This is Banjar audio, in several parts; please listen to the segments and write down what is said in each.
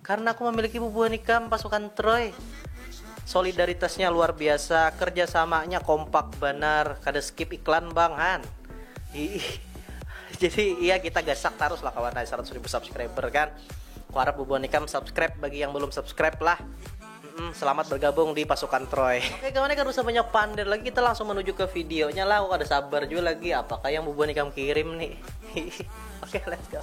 Karena aku memiliki bubuhan ikam, pasukan Troy. Solidaritasnya luar biasa, kerja samanya kompak banar, kada skip iklan bang han. Iih. Jadi iya kita gasak tarus lah kawan hai 100 ribu subscriber kan. Ku harap bubuhan ikam subscribe bagi yang belum subscribe lah. Hmm, selamat bergabung di pasukan Troy. Oke kawan ya, kada usah banyak pander lagi, kita langsung menuju ke videonya lah. Aku kada sabar juga lagi, apakah yang bubuhan ikam kirim nih. Oke, let's go.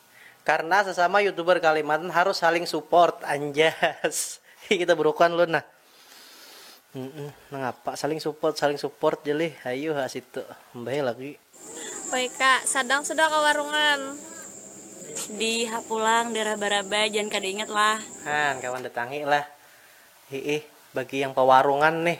Karna sesama youtuber kalimantan harus saling support anjas hi kita burukan lun nah nangapa saling support saling support ja lih hayu ha situ mbaheh lagi. Wk sadang sudah ka warungan. Di ha pulang di raba raba jan kada ingat lah. Haan kawan datangi lah hiih bagi yang pawarungan nih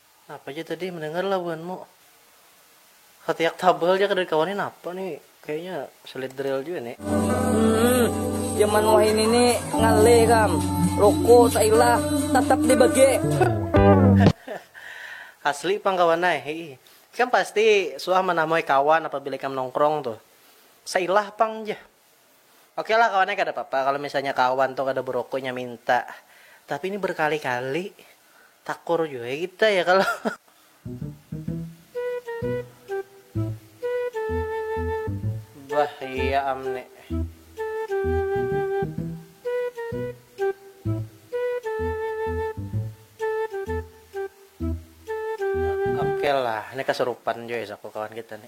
Napa ja tadi mendengar lah buhan mu. Satiak tabal ja kada dikawani napa ni kayaknya sulit drill jua ni. Hmm, jaman wahini ni ngalih kam, ruku sailah tatap dibagi. Asli pang kawan ai, hiih. Ikam pasti suah manamui kawan apabila ikam nongkrong tuh. Sailah pang jah. Oke lah kawan ai kada papa kalo misalnya kawan tu kada berokok inya minta, tapi ini berkali kali takur jua ya kita ya kalo. Bah iya am ni. Oke lah ini kasurupan jua isaku kawan kita ni.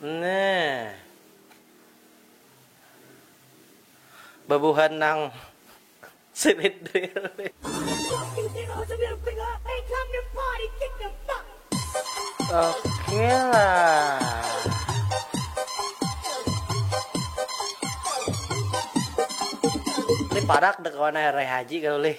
Nah. Bebuhan nang sweet drill. Oke lah. Lih parak deh kawan air reh haji kalu lih.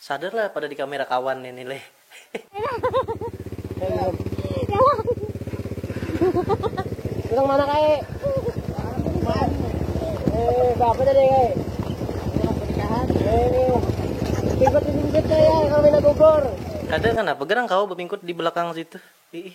Sadar lah pada di kamera kawan ini leh. Nang mana kae? Eh, bapak tadi kae. Eh, ikut di pinggir saya kalau minat bubur. Kada kenapa gerang kau bepingkut di belakang situ. Ih.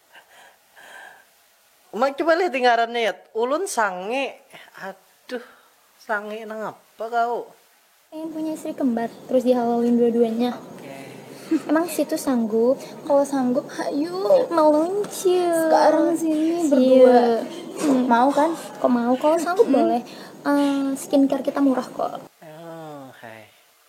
Uma coba lih di ngarannya yat. Ulun sange. Aduh. Sange nangapa kau. Pengen punya istri kembar terus dihawauin dua duanya emang situ sanggup kalo sanggup hayu meluncur sekarang sini berdua mau kan kok mau kalo sanggup boleh uh, skincare kita murah kok.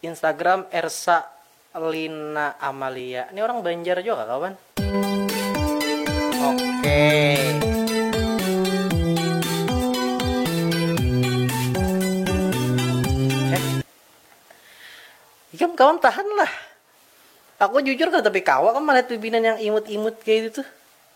Instagram Ersa Lina Amalia. Ni orang Banjar jua kah kawan? Okey. Ikam kawan tahan lah. Aku jujur kada tapi kawa kam malihat bibinan yang imut-imut kaya itu tuh.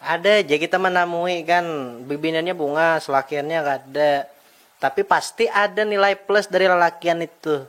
Ada ja kita manamui kan, bibiniannya bungas, lakiannya kada. Tapi pasti ada nilai plus dari lalakian itu.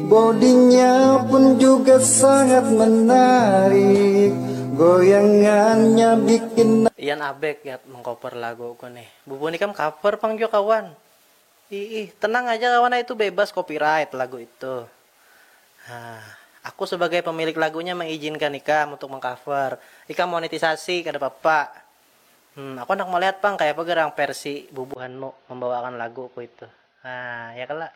Bodinya pun juga sangat menarik Goyangannya bikin Ian Abeg gat mengcover lagu ku nih. Bubun ikam cover pang jua kawan. Iih, tenang aja kawan ai itu bebas copyright lagu itu. Hah, aku sebagai pemilik lagunya mengizinkan ikam untuk mengcover. Ikam monetisasi kada papa. Hmm, aku handak melihat pang kayapa gerang versi bubuhanmu membawakan lagu ku itu. Hah, ya kala.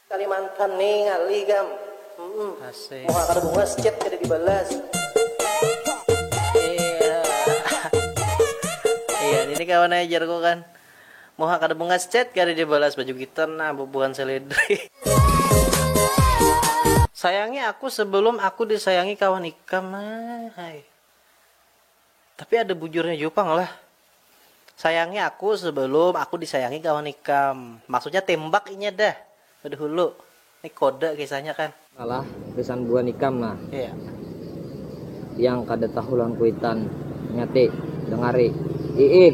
Kalimantan ni ngalih gam. Asik. Muha kada bungas chat kada dibalas. Iya ini kawan ai jarku kan. Muha kada bungas chat kada dibalas baju kita nah bubuhan seledri. Sayangi aku sebelum aku disayangi kawan ikam nah hai. Tapi ada bujurnya jua pang lah. Sayangi aku sebelum aku disayangi kawan ikam. Maksudnya tembak inya dah dahulu. Ini kode kisahnya kan. Alah gasan buhan ikam nah. Iya. Yang kada tahu lawan kuitan. Nya ti, dengari. Iih.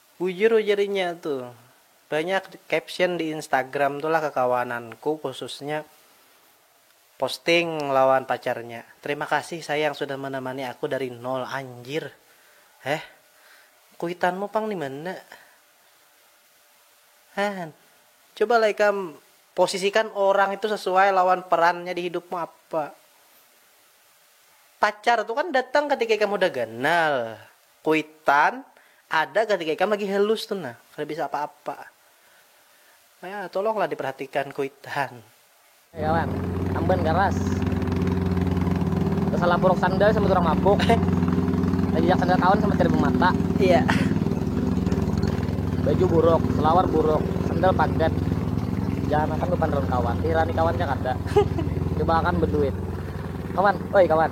Bujur ujar inya tu. Banyak caption di Instagram tu lah kekawananku khususnya posting lawan pacarnya. Terima kasih sayang sudah menemani aku dari nol. Anjir. Heh. Kuitanmu pang dimana? Heh. Coba lah ikam posisikan orang itu sesuai lawan perannya di hidupmu apa. Pacar tu kan datang ketika ikam hudah ganal. Kuitan, ada ketika ikam lagi helus tu nah, kada bisa apa-apa. Ya, tolonglah diperhatikan kuitan. Hei kawan, amban garas. Tasalah puruk sandal sambat urang mabuk. Tajajak sandal kawan sambat kada bemata. Iya. Baju buruk, selawar buruk, sandal pagat. Jahanakan bepanderan kawan, dihirani kawan ja kada. Coba akan beduit. Kawan, oi kawan.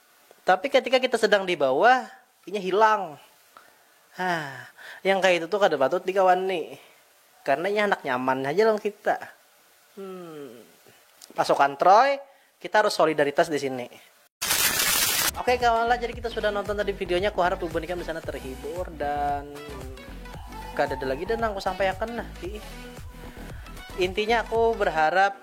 Tapi ketika kita sedang di bawah, inya hilang. Hah, yang kayak itu tuh kada patut dikawani. Karena inya handak nyaman haja lawan kita. Hmm. Pasukan Troy, kita harus solidaritas di sini. Oke okay, kawan lah, jadi kita sudah nonton tadi videonya. Aku harap ibu nikam di sana terhibur dan kada ada lagi dan aku sampaikan lah. Intinya aku berharap